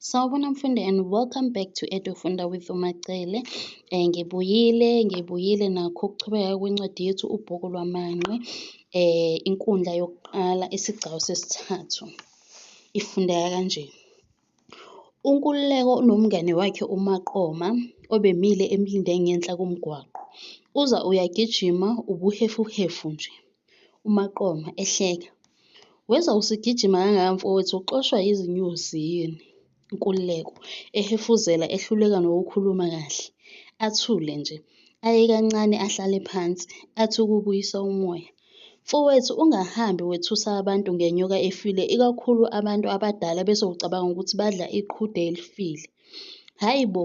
Sawubona mfundi and welcome back to Edufunda with uMacele. Eh ngibuyile, ngibuyile nakho ukuchubeka kwencwadi yethu ubhuku lwamanqe eh inkundla yokuqala isigcawu sesithathu. Ifundeka kanje. UNkululeko unomngane wakhe uMaqoma obemile emlinde ngenhla komgwaqo. Uza uyagijima ubuhefuhefu nje. uMaqoma, ehleka. Wezwa usigijima kangaka mfowethu uxoshwa yizinyosi yini? Nkululeko, ehefuzela ehluleka nokukhuluma kahle. Athule nje. Aye kancane ahlale phansi, athi ukubuyisa umoya. Mfowethu ungahambi wethusa abantu ngenyoka efile ikakhulu abantu abadala bese ucabanga ukuthi badla iqhude elifile. Hhayi bo!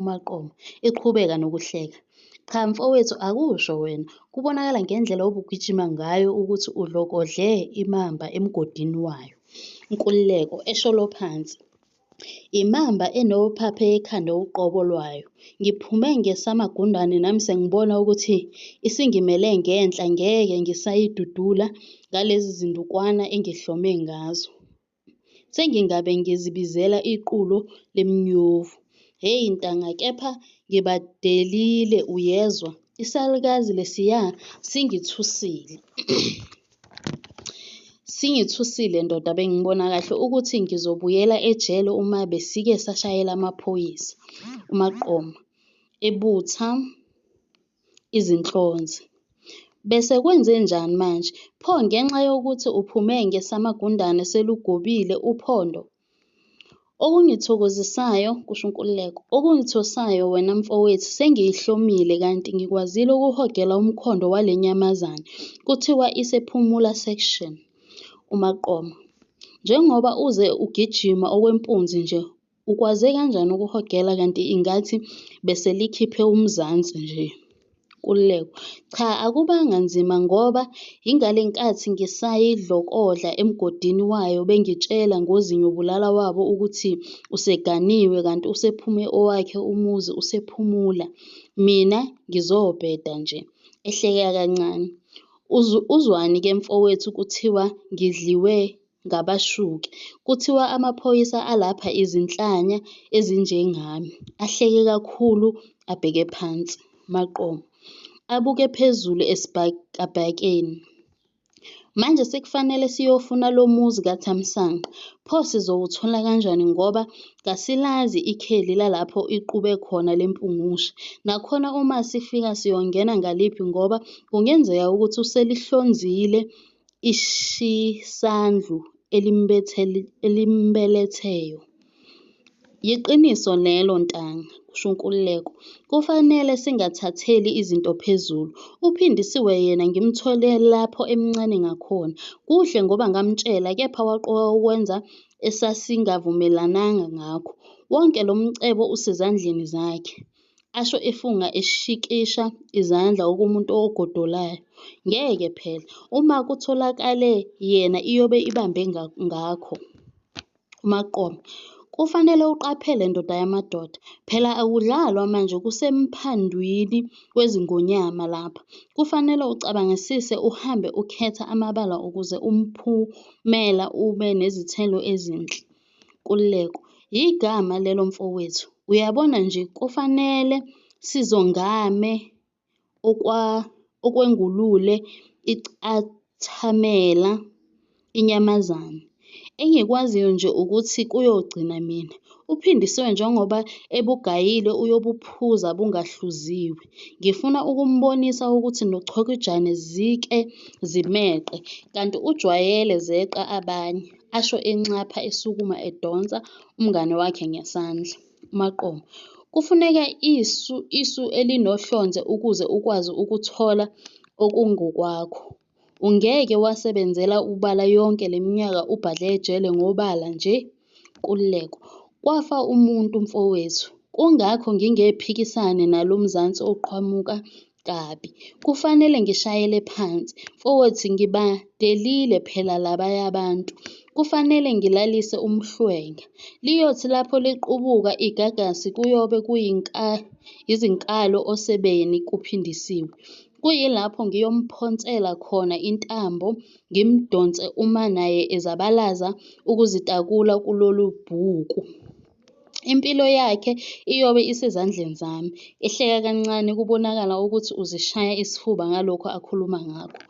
UMaqoma, eqhubeka nokuhleka, Cha mfowethu akusho wena, kubonakala ngendlela obugijima ngayo ukuthi udlokodle imamba emgodini wayo. Nkululeko, esholo phansi, Imamba enophaphe ekhanda uqobo lwayo. Ngiphume ngesamagundane nami sengibona ukuthi isingimele ngenhla ngeke ngisayidudula ngalezi zindukwana engihlome ngazo. Sengingabe ngizibizela iqulo lemnyovu. Hey ntanga kepha ngibadelile uyezwa. Isalukazi lesiya singithusile. Singithusile ndoda bengibona kahle ukuthi ngizobuyela ejele uma besike sashayela amaphoyisa. UMaqoma ebutha izinhlonze. Besekwenzenjani manje? Pho ngenxa yokuthi uphume ngesamagundane selugobile uphondo? Okungithokozisayo, kusho uNkululeko, okungithosayo wena mfowethu sengiyihlomile kanti ngikwazile ukuhogela umkhondo wale nyamazane kuthiwa isephumula section, uMaqoma. Njengoba uze ugijima okwempunzi nje Ukwaze kanjani ukuhogela kanti ingathi beselikhiphe umzansi nje. Nkululeko, Cha akubanga nzima ngoba yingale nkathi ngisayidlokodla emgodini wayo bengitshela ngozinyobulala wabo ukuthi useganiwe kanti usephume owakhe umuzi usephumula. Mina ngizobheda nje. Ehleka kancane. Uzwani ke mfowethu kuthiwa ngidliwe ngabashuki. Kuthiwa amaphoyisa alapha izinhlanya ezinjengami. Ahleke kakhulu abheke phansi. Maqoma. Abuke phezulu esibhakabhakeni. Manje sekufanele siyofuna lo muzi kaThamsanqa. Pho sizowuthola kanjani ngoba kasilazi ikheli lalapho iqube khona le mpungushe. Nakhona uma sifika siyongena ngaliphi ngoba kungenzeka ukuthi uselihlonzile ishisandlu elimbeletheyo. Yiqiniso lelo ntanga, kusho uNkululeko. Kufanele singathatheli izinto phezulu. UPhindisiwe yena ngimthole lapho emncane ngakhona. Kuhle ngoba ngamtshela kepha waqoka ukwenza esasingavumelananga ngakho. Wonke lo mcebo usezandleni zakhe. asho efunga eshikisha izandla okumuntu ogodolayo. Ngeke phela, uma kutholakale yena iyobe ibambe ngakho. UMaqoma, kufanele uqaphele ndoda yamadoda, phela akudlalwa manje kusemphandwini wezingonyama lapha. Kufanele ucabangisise uhambe ukhetha amabala ukuze umphumela ube nezithelo ezinhle. Nkululeko, Yigama lelo mfowethu. Uyabona nje kufanele sizongame okwa okwengulule icathamela inyamazane. Engikwaziyo nje ukuthi kuyogcina mina. UPhindisiwe njengoba ebugayile uyobuphuza bungahluziwe. Ngifuna ukumbonisa ukuthi noChokijane zike zimeqe, kanti ujwayele zeqa abanye. asho enxapha esukuma edonsa umngane wakhe ngesandla. UMaqoma, Kufuneka isu isu elinohlonze ukuze ukwazi ukuthola okungokwakho. Ungeke wasebenzela ubala yonke le minyaka ubhadle ejele ngobala nje. Nkululeko, Kwafa umuntu mfowethu. Kungakho ngingephikisani nalo Mzansi oqhamuka kabi. Kufanele ngishayele phansi futhi ngibadelile phela labaya abantu. Kufanele ngilalise umhlwenga. Liyothi lapho liqubuka igagasi kuyobe yizinkalo osebeni kuphindisiwe. Kuyilapho ngiyomphonsela khona intambo ngimdonse uma naye ezabalaza ukuzitakula kulolu bhuku. Impilo yakhe iyobe isezandleni zami. Ehleka kancane kubonakala ukuthi uzishaya isifuba ngalokho akhuluma ngakho.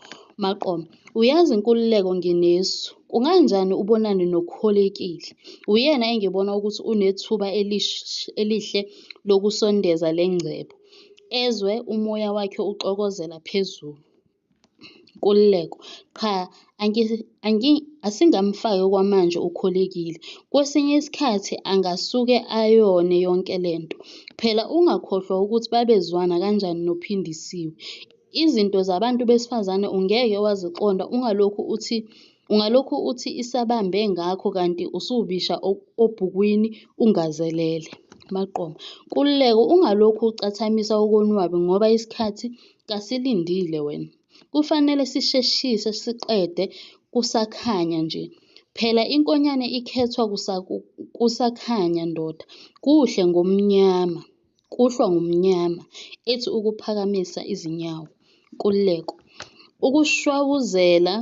Maqoma, uyazi Nkululeko nginesu. Kunganjani ubonane noKholekile? Uyena engibona ukuthi unethuba elihle lokusondeza le ngcebo, ezwe umoya wakhe uxokozela phezulu. Nkululeko, Cha asingamfaki okwamanje uKhulekile. Kwesinye isikhathi angasuke ayone yonke le nto. Phela ungakhohlwa ukuthi babezwana kanjani noPhindisiwe. Izinto zabantu besifazane ungeke waziqonda ungalokhu uthi ungalokhu uthi isabambe ngakho kanti usuwubisha obhukwini ungazelele. MaQoma, Nkululeko ungalokhu ucathamisa okonwabi ngoba isikhathi Kasilindile wena. Kufanele sisheshise siqede kusakhanya nje. Phela inkonyane ikhethwa kusakhanya ndoda. Kuhle ngomnyama. Kuhlwa ngomnyama, ethi ukuphakamisa izinyawo. Nkululeko. Ukushwawuzela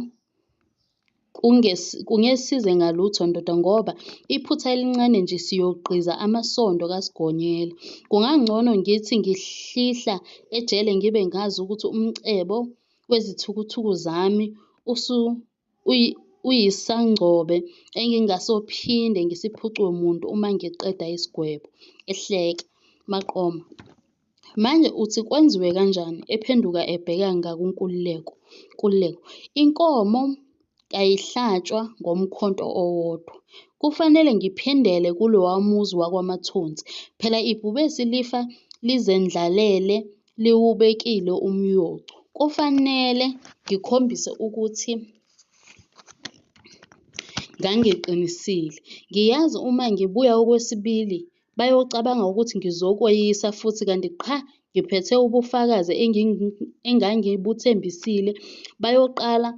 Kungesize ngalutho ndoda ngoba iphutha elincane nje siyogqiza amasondo kaSigonyela. Kungangcono ngithi ngihlihla ejele ngibe ngazi ukuthi umcebo wezithukuthuku zami uyisangcobe engingasophinde ngisiphucwe muntu uma ngiqeda isigwebo, ehleka. Maqoma. Manje uthi kwenziwe kanjani ephenduka ebheka ngakunkululeko kululeko inkomo kayihlatshwa ngomkhonto owodwa kufanele ngiphindele kulowa muzi wakwamathunzi phela ibhubesi lifa lizendlalele liwubekile umyocu kufanele ngikhombise ukuthi ngangiqinisile ngiyazi uma ngibuya okwesibili Bayocabanga ukuthi ngizokweyisa futhi kanti qha ngiphethe ubufakazi engangibuthembisile. Bayoqala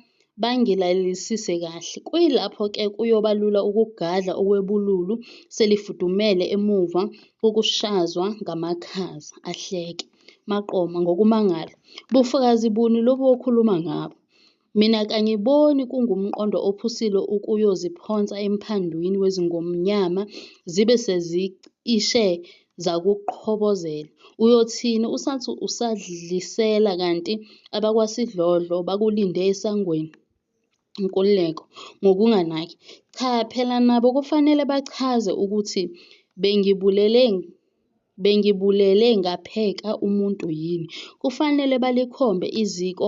bangilalelisise kahle. Kuyilapho ke kuyoba lula ukugadla okwebululu selifudumele emuva kokushazwa ngamakhaza, ahleke. Maqoma, Ngokumangala, bufakazi buni lobu okhuluma ngabo? Mina kangiboni kungumqondo ophusile ukuyoziphonsa emphandwini wezingonyama zibe sezicishe zakuqhobozela. Uyothini usathi usadlisela kanti abakwasidlodlo bakulinde esangweni? Nkululeko, Ngokunganaki, Cha phela nabo kufanele bachaze ukuthi bengibulele Bengibulele ngapheka umuntu yini? Kufanele balikhombe iziko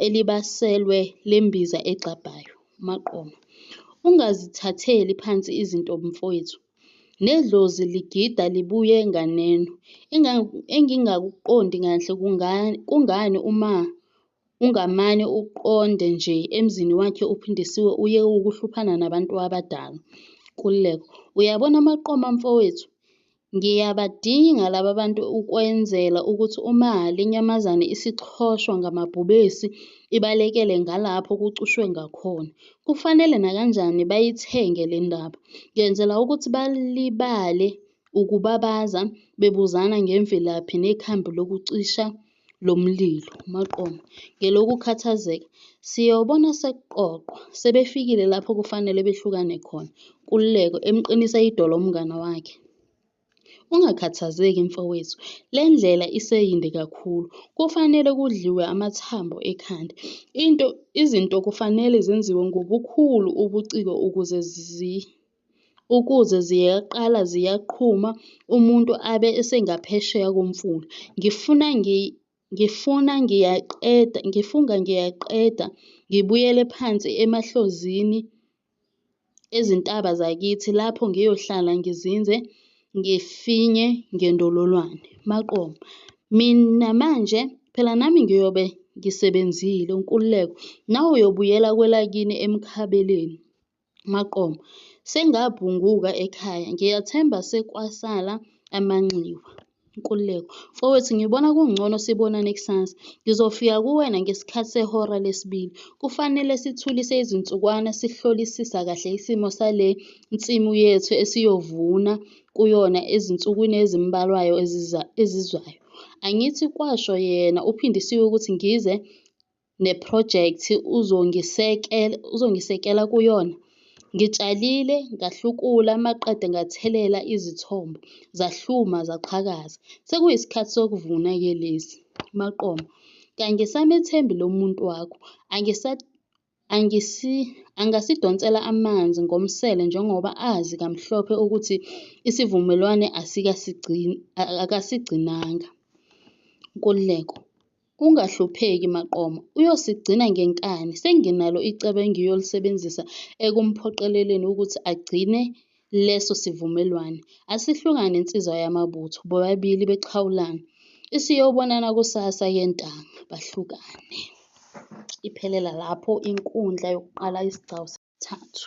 elibaselwe lembiza egxabhayo. UMaqoma, Ungazithatheli phansi izinto mfowethu. Nedlozi ligida libuye nganeno. Engingakuqondi kahle kungani uma Ungamane uqonde nje emzini wakhe uPhindisiwe uye ukuhluphana nabantu abadala. Nkululeko, Uyabona amaqoma mfowethu? Ngiyabadinga laba bantu ukwenzela ukuthi uma le nyamazane isichoshwa ngamabhubesi ibalekele ngalapho kucushwe ngakhona. Kufanele nakanjani bayithenge le ndaba. Ngenzela ukuthi balibale ukubabaza bebuzana ngemvelaphi nekhambi lokucisha lomlilo, maqoma, ngelokukhathazeka, siyobona sekuqoqwa, sebefikile lapho kufanele behlukane khona, Nkululeko, emqinisa idolo umngane wakhe. Ungakhathazeki, mfowethu, le ndlela iseyinde kakhulu. Kufanele kudliwe amathambo ekhanda. Into, izinto kufanele zenziwe ngobukhulu ubuciko ukuze zi. ukuze ziyaqala ziyaqhuma umuntu abe esengaphesheya komfula. Ngifuna ngifuna ngiyaqeda, ngifunga ngiyaqeda ngibuyele phansi emahlozini ezintaba zakithi lapho ngiyohlala ngizinze ngifinye ngendololwane. Maqoma, Mina manje phela nami ngiyobe ngisebenzile. Nkululeko, Nawe uyobuyela kwelakini eMkhabeleni. maqoma sengabhunguka ekhaya ngiyathemba sekwasala amanxiwa. Nkululeko, Mfowethu ngibona kungcono sibonane kusasa. Ngizofika kuwena ngesikhathi sehora lesibili. Kufanele sithulise izinsukwana sihlolisisa kahle isimo sale nsimu yethu esiyovuna kuyona ezinsukwini ezimbalwayo ezizwayo. Angithi kwasho yena uPhindisiwe ukuthi ngize nephrojekthi uzongisekela kuyona. Ngitshalile, ngahlukula maqede ngathelela izithombo zahluma zaqhakaza. Sekuyisikhathi sokuvuna-ke lesi. Maqoma, kangisamethembi lo muntu wakho. Angasidonsela amanzi ngomsele njengoba azi kamhlophe ukuthi isivumelwane akasigcinanga. Nkululeko. Ungahlupheki Maqoma uyosigcina ngenkani senginalo icebo engiyolisebenzisa ekumphoqeleleni ukuthi agcine leso sivumelwane. Asihlukane nsizwa yamabutho bobabili bexhawulane. Isiyobonana kusasa ke ntanga bahlukane. Iphelela lapho inkundla yokuqala isigcawu sesithathu.